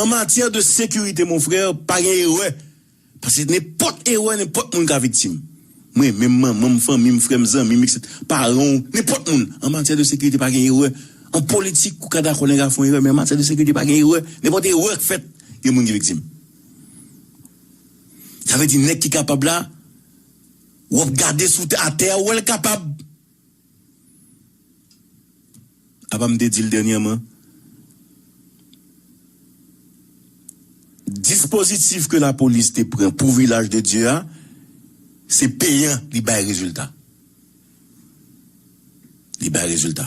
An matyè de sekirite mon frère pa gen erè paske nenpòt erè nenpòt moun ka viktim. Mwen menm, manman m, fanmi m, frè m, zanmi m, etc. Paran w, nenpòt moun, an matyè de sekirite pa gen erè. An politik, ou ka dakò nèg a fon erè, men an matyè de sekirite pa gen erè. Nenpòt erè k fèt, gen moun ki viktim. Sa vle di nèg ki kapab la, w ap gade sou atè a, ou wè l kapab. Apa m te di l dènyèman? Dispozitif ke lapolis te pran pou Vilaj de Dye a, se peyan, li bay rezilta. Li bay rezilta.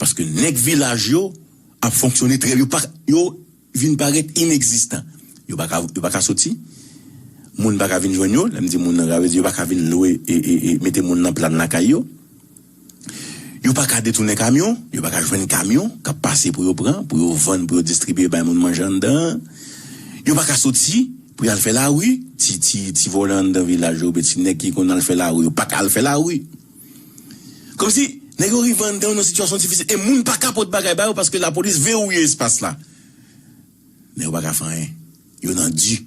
Paske nèg vilaj yo ap fonksyone trè byen. Yo vin parèt inekzistan. Yo pa ka yo pa ka soti, moun pa ka vin jwenn yo, lè m di moun nan sa vle di yo pa ka vin lwe e mete moun nan plàn lakay yo. Yo pa ka detounen kamyon, yo pa ka jwenn kamyon k ap pase pou yo pran, pou yo vann, pou yo distribye bay moun manje anndan an. Yo pa ka soti pou y al fè lari, ti ti ti vòlè anndan vilaj yo oubyen ti nèg ki konn al fè lari yo pa ka al fè lari. Kòmsi nèg yo rive anndan yon sitiyasyon difisil e moun pa ka pot bagay ba yo paske lapolis verouye espas la. Men yo pa ka fè anyen. Yo nan di.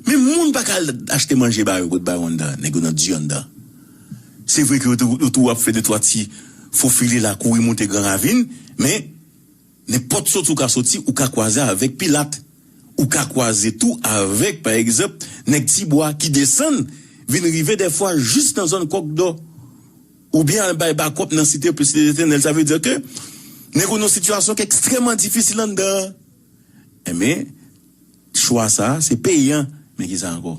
Men moun pa ka al achte manje ba yo pot ba yo anndan. Nèg yo nan di anndan. Se vre ke yo tou ap fè de twa ti fofile la kouri moute gran ravin men. Nenpòt soti ou ka soti, ou ka kwaze avèk Pilat. Ou ka kwaze tou avèk, pa egzanp, nèg Tibwa ki desann vin rive dèfwa jis nan zòn Kòk Dò, oubyen al bay bakòp nan Site Plisitènèl. Sa vle di ke nèg yo nan yon sitiyasyon ki ekstrèman difisil anndan an. Enben, chwa sa a se peyan. Men ki sa ankò?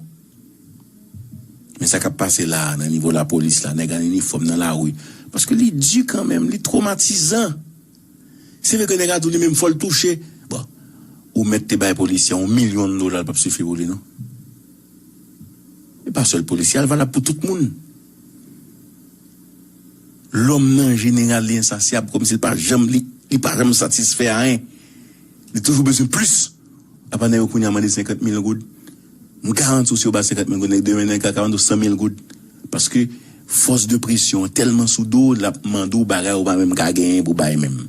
Men sa k ap pase la a nan nivo lapolis la, nèg an inifòm nan lari, paske li di kanmenm, li twomatizan. Si li te nèg a tou li menm fòl touche bon ou mèt te bay polisye yon milyon dola li pap sifi pou li non li pa sèl polisye a li valab pou tout moun lòm nan jeneral li ensasyab kòmsi li pa janm li pa janm satisfè a yen. Li toujou bezwen plis. Apa nèg yo kounye a mande 50 mil goud? M garanti w si yo ba 50 mil goud nèg demen nèg ka mande w 100 mil goud. Paske fòs de presyon an tèlman sou do w l ap mande w bagay ou pa menm ka genyen pou bay menm.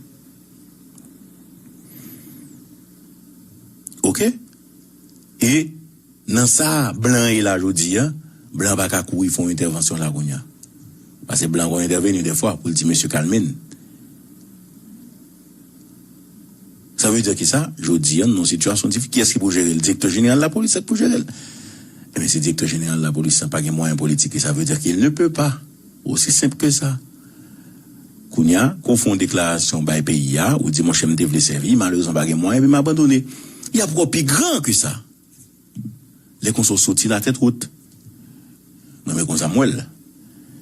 Ok? E nan sa blan an ye la jodi a, blan an pa ka kouri fè yon entèvansyon la kounye a. Pase blan an konn entèveni dèfwa pou l di mesye kalme n. Sa vle di ki sa? Jodi an, nou nan yon sitiyasyon difi, kiyès ki pou jere l? Direktè jeneral lapolis sa k pou jere l. Ebyen, si direktè jeneral lapolis sa pa gen mwayen politik li, sa vle di qu'il ne peut pas. Osi senp ke sa. Kounye a, kou w fè yon deklarasyon bay peyi a, ou di monchè m te vle sèvi, malerezman m pa gen mwayen epi m abandone. Y ap wè w pi gran ke sa. Lè konsa w soti la tèt wot. Mwen men konsa m wè l.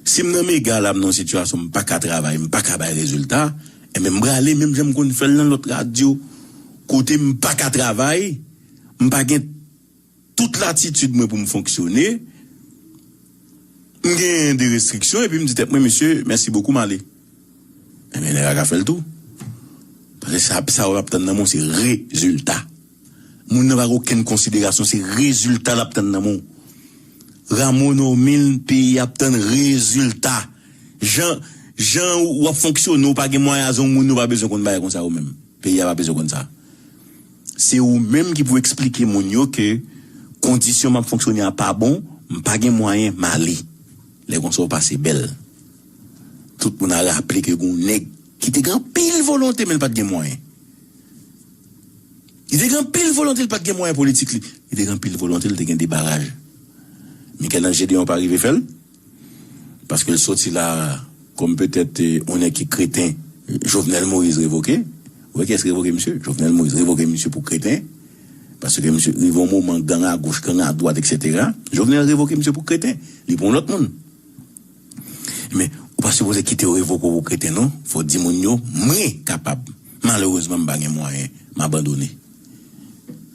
Si m nan mega la m nan yon sitiyasyon m pa ka travay m pa ka bay rezilta enben m prale menm jan m konn fè l nan lòt radyo kote m pa ka travay m pa gen tout latitid mwen pou m fonksyone m gen de restriksyon epi m di tèt mwen mesye mèsi bokou m ale enben nèg la ka fè l tou paske sa w ap tann nan mwen w se rezilta. Moun nan pa gen okenn konsiderasyon se rezilta lap tann nan men w Rameau Normil peyi a ap tann rezilta jan jan ou ap fonksyone ou pa gen mwayen aze yon moun yo pa bezwen konn bagay konsa yo menm peyi a pa bezwen konn sa se ou menm ki pou eksplike moun yo ke kondisyon map fonksyone a pa bon m pa gen mwayen m ale lè konsa ou pase bèl tout moun a raple ke gen yon nèg ki te gen anpil volonte men l pat gen mwayen. Li te gen anpil volonte, li pa t gen mwayen politik li. Li te gen anpil volonte, li te gen 2 baraj. Michel-Ange Gédéon pa rive fè l, paske l soti la kòm petèt yon nèg ki kreten. Jovenel Moïse revoke. Ou wè kiyès ki revoke misye? Jovenel Moïse revoke misye pou kreten. Paske misye rive yon moman gang agoch, gang adwat eksetera. Jovenel revoke misye pou kreten. Li pran yon lòt moun. Men, ou pa sipoze kite yo revoke w pou kreten non. Fò w di moun yo, Mwen kapab. Malerezman, m pa gen mwayen. M abandone.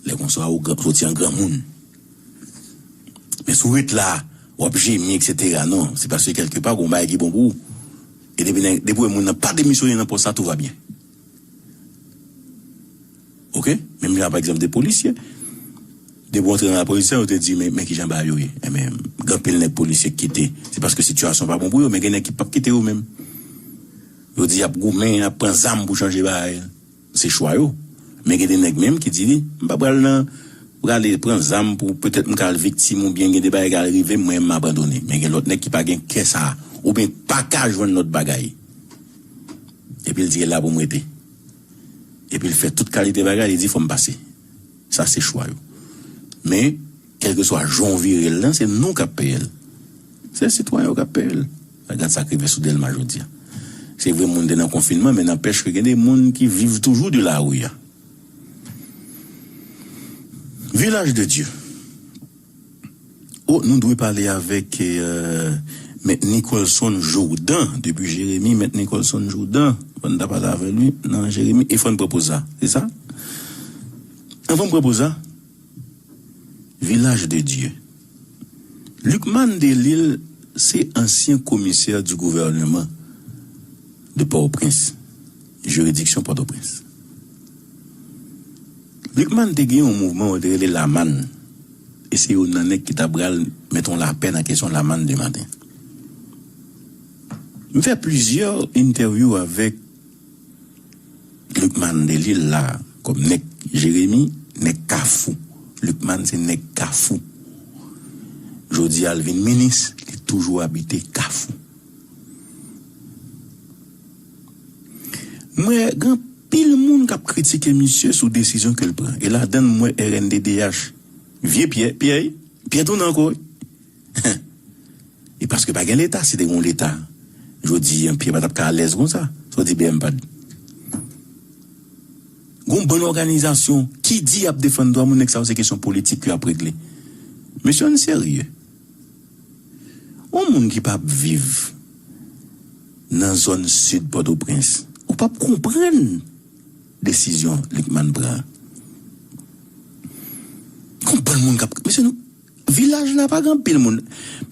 Lè konsa, ou soti an granmoun. Men si w ret la, w ap jemi eksetera, non. Se paske kèlkepa, gen yon bagay ki bon pou ou. E depi nèg, depi w wè moun nan pa demisyone nan pòs la, tou va byen. ok menm jan pa egzanp de polisye depi w antre nan lapolis yo te di men kijan bagay yo ye enben gen anpil nèg polisye ki kite se paske sitiyasyon pa bon pou yo men gen nèg ki pap kite yo menm yo di yap goumen yap pran zam pou chanje bagay se chwa yo men gen de nèg menm ki di li m pa pral nan prale pran zam pou petèt m ka al viktim oubyen gen de bagay ki ka al rive m mwen menm m abandone men gen lòt nèg ki pa gen kè sa oubyen paka jwenn lòt bagay epi l di e la pou m rete. epi l fè tout kalite bagay li di fò m pase sa se chwa yo men kèlkeswa jan w vire l lan se nou k ap peye l se sitwayen yo k ap peye l gad sa k rive sou Dèlma jodi a se vre moun te nan konfinman men nanpèch ke gen de moun ki viv toujou de lari a Vilaj de Dye. Oh nou dwe pale avèk mèt Nicholson Jourdan depi Jeremi mèt Nicholson Jourdan fò n ta pale avè li nan Jeremi e fò n pran poz sa se sa? Anvan m pran poz sa Village de Dieu Lucmane Delille se ansyen komisè di gouvèneman de Port-au-Prince. jiridiksyon Pòtoprens. Rickman te gen yon mouvman yo te rele Lamann e se yo nan nèg ki ta pral mèt yon lapè nan kesyon Lamann de maten. M fè plizyè entèvyou avèk Rickman Delil la kòm nèg Jeremi, nèg Kafou. Rickman se nèg Kafou. Jodi a l vin minis, li toujou abite Kafou. M wè gen anpil moun k ap kritike misye sou desizyon ke l pran e ladann m wè rnddh. Vye Pyè, Pyè wi, Pyè tounen ankò wi. Hen! E paske pa gen leta, si te gen yon leta jodi an Pyè pa t ap ka alèz konsa. Sa w di bmpad? Gen yon bann òganizasyon ki di y ap defann dwa moun, nèg sa yo se kesyon politik yo ap regle. Mesye ann serye. Yon moun ki pap viv nan zòn sid Pòtoprens, ou pap konprann desizyon Lucmane pran an. Gon bann moun kap, mesye nou, vilaj la pa gen anpil moun.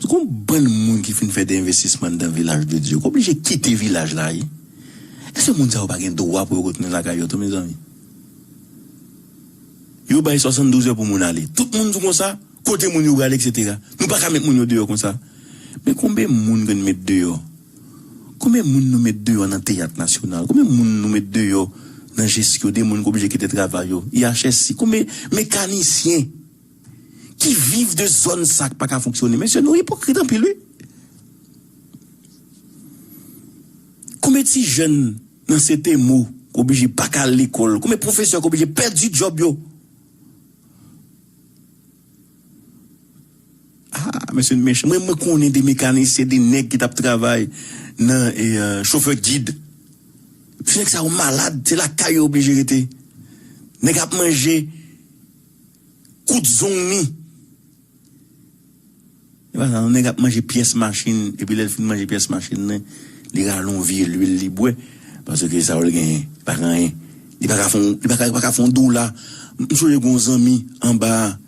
Gon bann moun ki fin fè de envestisman anndan vilaj de Dye, k oblije kite vilaj la wi. Èske moun sa yo pa gen dwa pou yo retounen lakay yo tou mezanmi? Yo bay 72 è pou moun ale. Tout moun di konsa? Kote moun yo prale etc. Nou paka met moun yo deyò konsa. Men konbe moun ke n met deyò? Konbe moun nou met deyò nan teyat nasyonal? Konbe moun nou met deyò nan Jesco de moun ki oblije kite travay yo? IHSI? Konbe mekanisyen ki viv de zòn sa k paka fonksyone? Mesye nou ipokrit anpil wi. Konbe ti jèn nan CTMO k oblije paka al lekòl? Konbe pwofesè k oblije pèdi djòb yo? Haa mesye mechan mwen mwen konnen de mekanisyen de nèg ki tap travay nan chofè gid ti nèg sa yo malad se lakay yo oblije rete nèg ap manje kout zong ni. Se pa sa non, nèg ap manje pyès machin epi lè l fin manje pyès machin nan li rale yon vye lwil li bwè paske sa yo l genyen pa k anyen li pa ka fon li pa ka li pa ka fon dola m sonje gon zanmi anba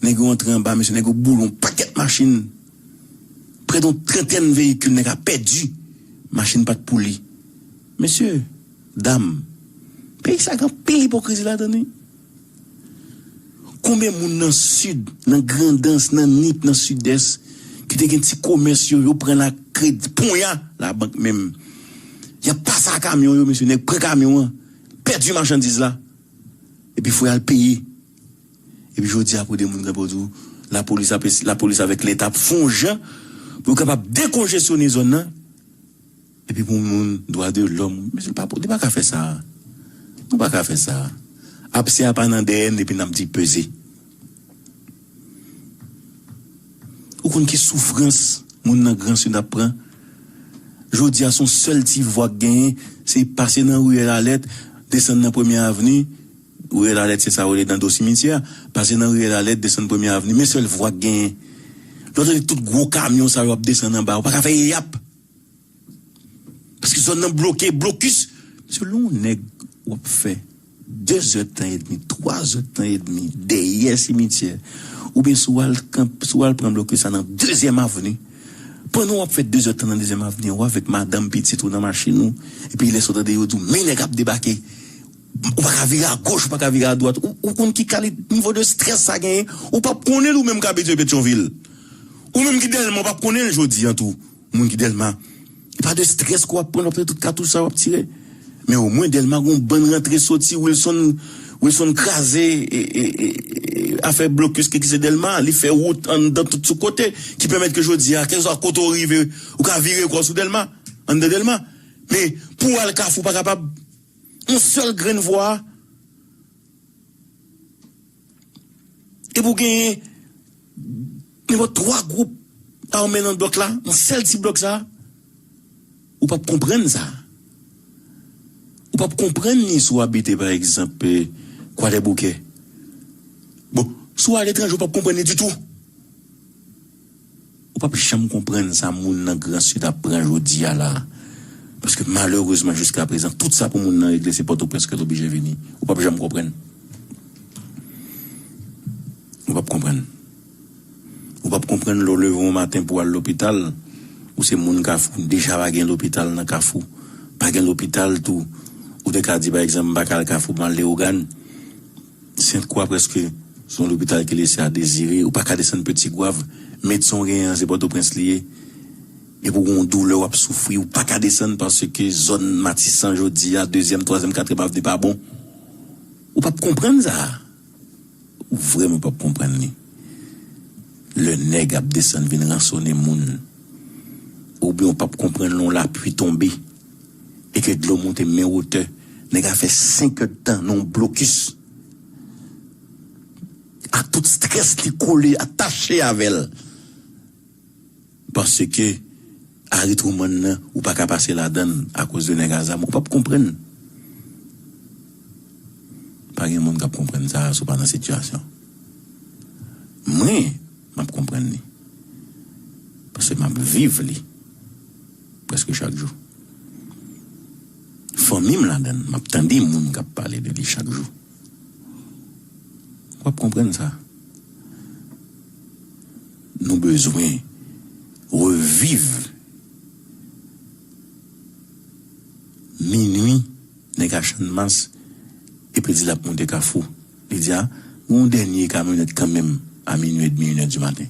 nèg yo antre anba mesye nèg yo boule yon pakèt machin près don trantèn veyikil nèg a pèdi machin pa t pou li mesye dam peyi sa gen anpil ipokrizi ladan l wi. Konbyen moun nan sid, nan grandans, nan nip, nan sidès ki te gen ti komès yo, yo pran la kredi ponya la bank menm yap pase a kamyon yo mesye nèg pran kamyon an pèdi machandiz la epi fò yal peye epi jodi a kote moun gen pou diw lapolis ap lapolis avèk leta ap fon jan pou yo kapab dekonjesyone zòn nan Epi pou moun dwa de lòm mesye pa nou pa ka fè sa a nou pa ka fè sa a apse a pa nan dèyè n epi n ap di peze ou konn ki soufrans moun nan gran sid ap pran jodi a son sèl ti vwa k genyen se pase nan riyèl alèt desann nan premye avni Riyèl Alèt se sa yo rele dan do simityè a. Pase nan riyèl Alèt, desann Premye Avni, men sèl vwa ki genyen. Lè w tande tout gwo kamyon sa yo ap desann anba a, ou pa ka fè eyap! Paske zòn nan bloke, blokis! Mesye, lè yon nèg w ap fè dezè tan edmi, twazè tan edmi dèyè simityè, oubyen si w al kanp, si w al pran blokis la nan Dezyèm Avni, pandan w ap fè dezè tan nan Dezyèm Avni an, ou avèk madanm, pitit ou nan machin ou, epi lè sa w tande yo di w men nèg ap debake! Ou pa ka vire a goch ou pa ka vire a dwat ou konn ki kalit nivo de strès sa genyen ou pap konnenl ou menm k abitye petyonvil ou menm ki dèlma ou pap konnenl jodi an tou moun ki dèlma e pa de strès ke wap pran aprè tout katouch sa wap tire men o mwen dèlma gon bann rantre soti wilson wilson kraze afè blokis ki egziste dèlma li fè wout anndan tout sou kote ki pèmèt ke jodi a kèlkeswa kote ou rive ou ka vire kòw sou dèlma anndan dèlma men pou al kafou pa kapab. Yon sèl grenn vwa epi ou genyen nenpòt 3 gwoup ame nan blòk la, nan sèl ti blòk sa, ou pap konprann sa. Ou pap konprann ni si w abite pa egzanp Kwadèboukè. Bon, si w aletranje ou pap konprann li ditou. Ou pap janm konprann sa moun nan gran sid ap pran jodi a la a. Paske malerezman jiska prezan tout sa pou moun nan regle se pòtoprens ke l oblije vini. Ou pap janm konprann. Ou pap konprann. Ou pap konprann lè w leve yon maten pou w al lopital, ou se moun kafou, deja pa gen lopital nan kafou. Pa gen lopital tou. Ou te ka di pa egzanp m pa ka al kafou m al leogane. Sent kwa preske se yon lopital ki lese a dezire, ou pa ka desann pe tigwav, medsen w genyen an se pòtoprens li ye, epi w gen yon doulè w ap soufri ou pa ka desann paske zòn matisan jodi a dezyèm, twazyèm, katriyèm avni pa bon, ou p ap konprann sa a, ou vrèman p ap konprann li lè nèg ap desann vin ransone moun, oubyen ou p ap konprann lè yon lapui tonbe. e ke dlo monte men wotè, nèg a fè 5 èd tan nan yon blokis ak tout strès li kole a tache avèl paske Harry Truman nan ou pa ka pase ladann akoz de nèg a zam ou pap konprann pa gen moun kap konprann sa si w pa nan sitiyasyon mwen map konprann li paske map viv li. Prèske chak jou. Fanmi m ladan l. M ap tande moun k ap pale de li chak jou. W ap konprann sa. Nou bezwen reviv minui nèg a channmas epi l di l ap monte kafou. Media, Gen yon dènye kamyonèt kanmenm a minwi edmi inè di maten.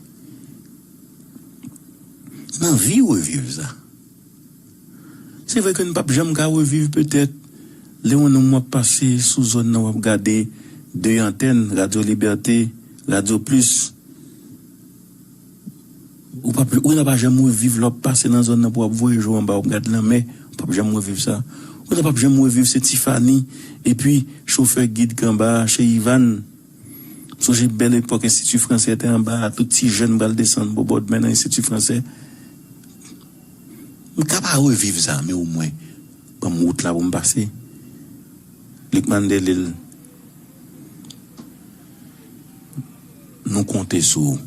N anvi reviv sa. Se vre ke n pap janm ka reviv petèt lè yon nonm w ap pase sou zòn nan w ap gade 2 antèn, Radyo Libète, Radyo Plis. Ou pap ou ta pa janm reviv lè wap pase nan zòn nan pou wap voye je w anba wap gad lanmè ou pap janm reviv sa ou ta pap janm reviv se Tifani epi chofè gid k anba a chez Ivàn m sonje bèl epòk enstiti fransè te anba a tout ti jèn pral desann bò bòdmè nan enstiti fransè m ka pa reviv sa men omwen ban m wout la pou m pase Lucmane Delille nou konte sou ou.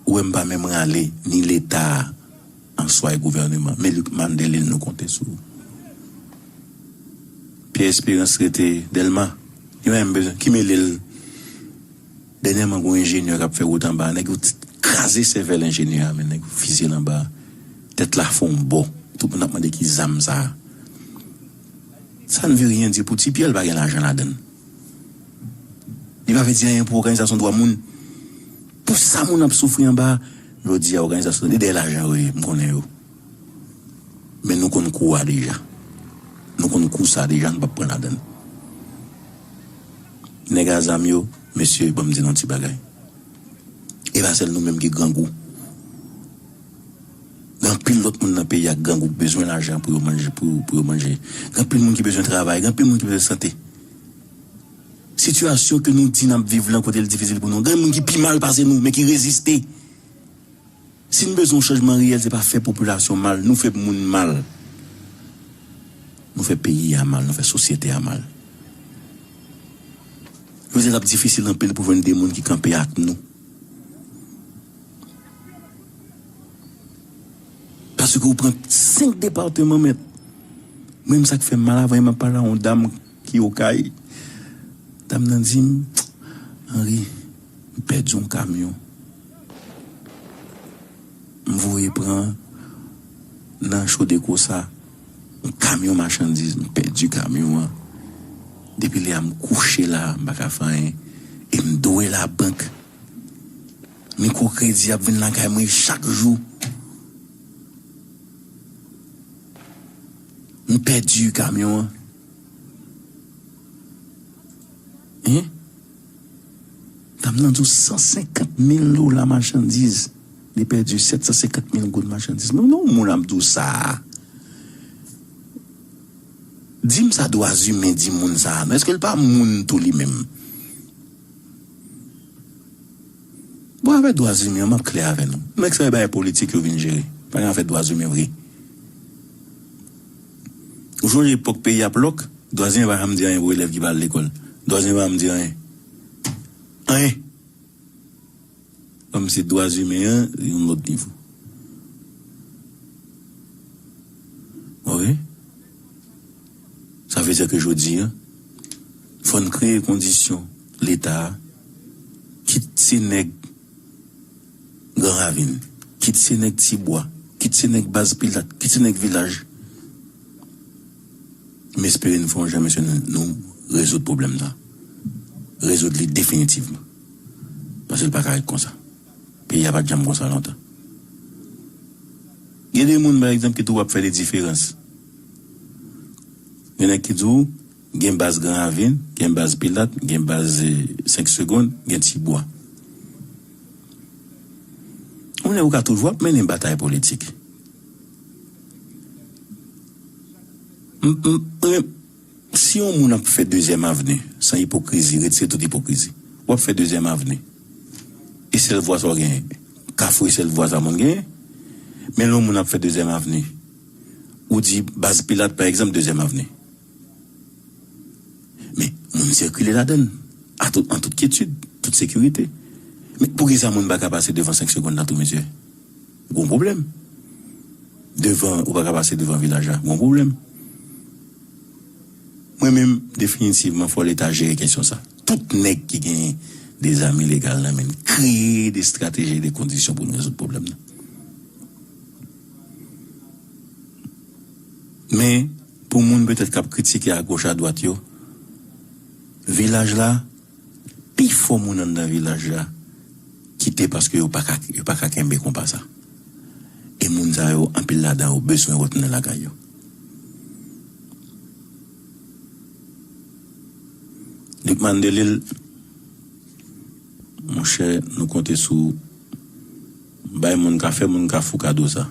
wè m pa menm rale ni leta a answa e gouvèneman me Luc Mandelin nou konte sou ou Pierre Espérance rete Dèlma li pa menm bezwen ki mele l dènyèman gen yon enjenyè k ap fè wout anba a nèg yo kraze sèvèl enjenyè a men nèg yo fizye l anba a tèt la fon w bo tout moun ap mande ki zam sa a sa ne veut rien dire pou ti Pierre l pa gen lajan ladann. Li pa vle di anyen pou òganizasyon dwa moun. Pou sa moun ap soufri anba a, jodi a òganizasyon li dèyè lajan yo ye, m konnen yo. Men nou konn kou a deja. Nou konn kou sa deja, nou p ap pran ladan l. Nèg a zam yo, mesye ban m di nou yon ti bagay. E pa sèl nou menm ki grangou. Gen anpil lòt moun nan peyi a ki grangou, ki bezwen lajan pou yo manje, pou yo manje. Gen anpil moun ki bezwen travay, gen anpil moun ki bezwen sante. Sitiyasyon ke nou di n ap viv lan kote l difisil pou nou, gen moun ki pi mal pase nou men ki reziste. Si n bezwen yon chanjman reyèl se pa fè popilasyon mal, nou fè moun mal. Nou fè peyi a mal, nou fè sosyete a mal. Yo di l ap difisil anpil pou jwenn de moun ki kanpe ak nou. Paske ou pran 5 depateman mèt. Mwen menm sa k fè m mal avan yè m ap pale a yon dam. Ki okay? Dam nan di m, Henri, m pèdi yon kamyon m voye pran nan Chodeco sa. Yon kamyon machandiz. M pèdi kamyon an. Depi lè a m kouche la, m pa ka fè anyen. E m dwe labank. Mikwokredi ap vin lakay mwen chak jou. M pèdi kamyon an. Hein Dam nan di w 150 mil dola machandiz li pèdi 750 mil goud machandiz mwen menm yon moun ap di w sa Di m sa dwa zimen di moun sa non eske l pa moun tou li menm Bon afè dwa zimen m ap klè avè nou nèg sa yo bay politik yo vin jere pa gen afè dwa zimen vre. Ou sonje epòk peyi ap lòk, Dwazen pa janm di anyen pou elèv ki pa al lekòl. Dwazen pa janm di anyen. Anyen! Kòm se dwazimen an, se yon lòt nivo. Ok? Sa vle di ke jodi a, fò n kreye kondisyon Leta a, kit se nèg. Gran Ravin, kit se nèg Ti Bwa, kit se nèg Baz Pilat, kit se nèg Vilaj, m espere n fè yon jan mesye nou rezoud pwoblèm sa, rezoud li definitivman, paske l pa ka ret konsa. Peyi a pa t janm konsa lontan. Gen de moun pa egzanp ki di w ap fè de diferans. Gen nèg ki di w. Gen baz Gran Ravin, gen baz Pilat, gen baz 5 segond, gen Ti Bwa. Yon lè ou ka toujou ap mennen batay politik. Si yon moun ap fè dezyèm avni san ipokrizi, retire tout ipokrizi. Ou ap fè dezyèm avni. E sèl vwa sa ou genyen. Kafou e sèl vwa sa moun genyen. Men lè yon moun ap fè dezyèm avni, ou di baz Pilat pa egzanp dezyèm avni. Men, moun sikile ladan l, a tout, an tout kyetid, tout sekirite. Men, pou ki sa moun pa ka pase devan senk segonn la tou, mesye? G'on pwoblèm. Devan, ou pa ka pase devan vilaj la, g'on pwoblèm. Mwen menm, definitivman, fò Leta jere kesyon sa. Tout nèg ki gen de zam ilegal nan men, kreye de strateji e de kondisyon pou nou rezoud pwoblèm nan. Men, pou moun petèt k ap kritike agoch adwat yo, vilaj la, pifò moun anndan vilaj la kite paske yo pa ka yo pa ka kenbe konpa sa. E moun sa yo, anpil ladan yo bezwen retounen lakay yo. Lucmane Delille, monchè, nou konte sou ou. Bay moun ka fè moun kafou kado sa.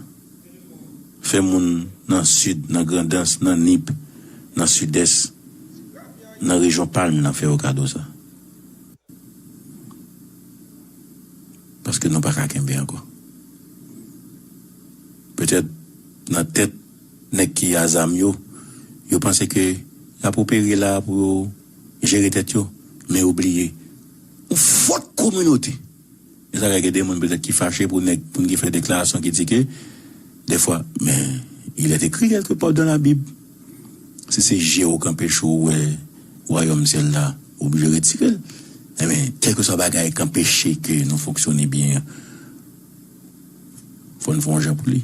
Fè moun nan sid, nan grandans, nan nip, nan sidès, nan rejyon palm nan fè yo kado sa. Paske nou paka kenbe ankò. Petèt nan tèt nèg ki a zam yo, yo panse ke y ap opere la pou yo jere tèt yo, men yo bliye. Yon fot kominote. Men sa kay gen de moun petèt ki fache pou nèg moun ki fè deklarasyon ki di ke dèfwa men il est écrit quelque part dans la bible si se je w k anpeche w wè wayòm syèl la ou oblije retire l enben kèlkeswa bagay k anpeche ke nou fonksyone byen an fò n fè yon jan pou li.